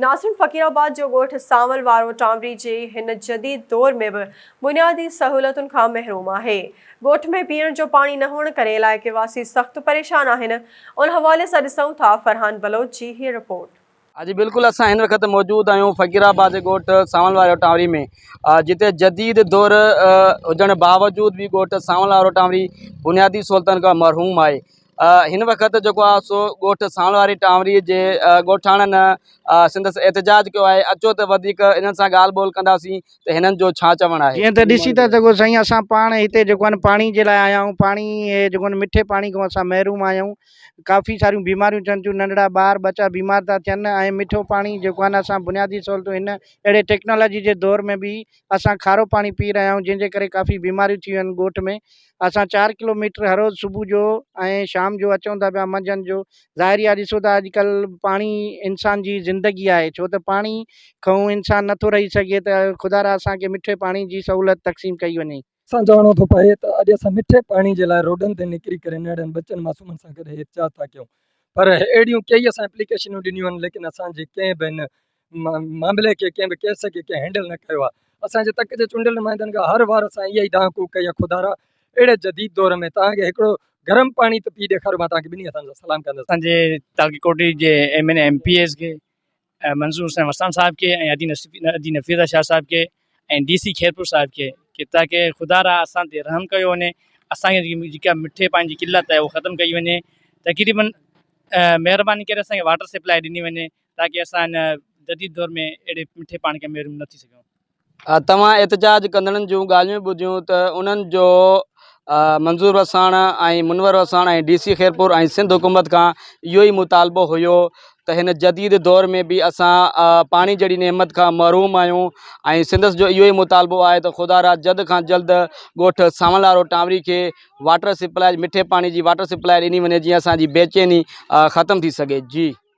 ناصرن فقيرآباد جو ڳوٺ سانول وارو ٽامري جي هن جديد دور ۾ به بنيادي سهولتن کان محروم آهي. ڳوٺ ۾ پيئڻ جو پاڻي نه هئڻ ڪري علائقي واسي سخت پريشان آهن. ان حوالي سان ڏسون ٿا فرحان بلوچ جي هيء رپورٽ. ها جي بلڪل اسان هن وقت موجود آهيون فقيرآباد جي ڳوٺ سانول وارو ٽامري ۾ جتي جديد دور هجڻ باوجود به ڳوٺ سانول وارو ٽامري بنيادي سهولتن کان محروم آهي هن وقت جيڪو آهي سو ڳوٺ ساڻ واري ٽانوري جي ڳوٺاڻن سندس احتجاج ڪيو آهي اچو ته وڌيڪ انهن سان ڳالهه ٻولهه ڪنداسين ته هنن جو ڇا چوڻ آهي جيئن ته ڏسي ٿا سگهو سائين اسان پاڻ هتي جيڪو آهن پاڻي جي لاء آيا آهيون پاڻي جيڪو آهن مٺي پاڻي کان اسان محروم آيا آهيون ڪافي ساريون بيماريون ٿين ٿيون ننڍڙا ٻار ٻچا بيمار ٿا ٿين ۽ مٺو پاڻي جيڪو آهن اسان بنيادي سهولتون هن اهڙي ٽيڪنالاجي جي دور ۾ بي اسان کارو پاڻي پي رهيا آهيون جنهن جي ڪري ڪافي بيماريون ٿيون آهن ڳوٺ ۾ اسان چار ڪلوميٽر هر روز صبح جو ۽ شام جو اچون ٿا پيا منجهند جو ظاهري آ ڏسو ٿا اڄکلھ پاڻي انسان جي زندگي آهي ڇو ته پاڻي کئون انسان نٿو رهي سگهي ته خدارا اسانکي مٺي پاڻي جي سهولت تقسيم ڪئي وڃي سان چوڻو ٿو پوي ته اڄ اسان مٺي پاڻي جي لاء روڊن تي نڪري ڪري ننڍڙن ٻچن معصومن سان گڏ احتجاج ٿا ڪيون پر اهڙيون ڪيئي اسان اپليڪيشنون ڏنيون آهن ليڪن اسان جي ڪنهن به ان معاملي کي ڪنهن به ڪيس کي ڪنهن هينڊل نه ڪيو آهي اسان جي تڪ جي چونڊيل نمائندن کان هر وار اسان اها ئي دانهن ڪوڪ ڪئي آهي خدارا اهڙي جديد دور ۾ توهان کي هڪڙو گرم پاڻي ته پي ڏيکاريو مان توهان کي ٻنهي هٿن سان سلام ڪندس اسان جي تعلقي ڪوٽڙي جي M N M P As کي منظور حسين وسان صاحب کي ۽ ادي نفيسه شاهه صاحب کي ۽ ڊي سي خيرپور صاحب کي ڪي تاڪي خدا را اسان تي رحم ڪيو وڃي اسان کي جيڪا مٺي پاڻي جي قلت آهي اهو ختم ڪئي وڃي تقريبن مهرباني ڪري اسان کي واٽر سپلاء ڏني وڃي تاڪي اسان جديد دور ۾ اهڙي مٺي پاڻي کان محروم نه ٿي سگهون توهان احتجاج ڪندڙن جون ڳالهيون ٻڌيون ته انهن جو منظور وساڻ ۽ منور وساڻ ۽ ڊي سي خيرپور ۽ سنڌ حڪومت کان اهو ئي مطالبو هيو ته هن جديد دور ۾ به اسان پاڻي جهڙي نعمت کان محروم آهيون ۽ سندس جو اهو ئي مطالبو آهي ته خدا را جلد کان جلد ڳوٺ سانولارو ٽانوري کي واٽر سپلائي مٺي پاڻي جي واٽر سپلائي ڏني وڃي جيئن اسان جي بيچيني ختم ٿي سگهي جي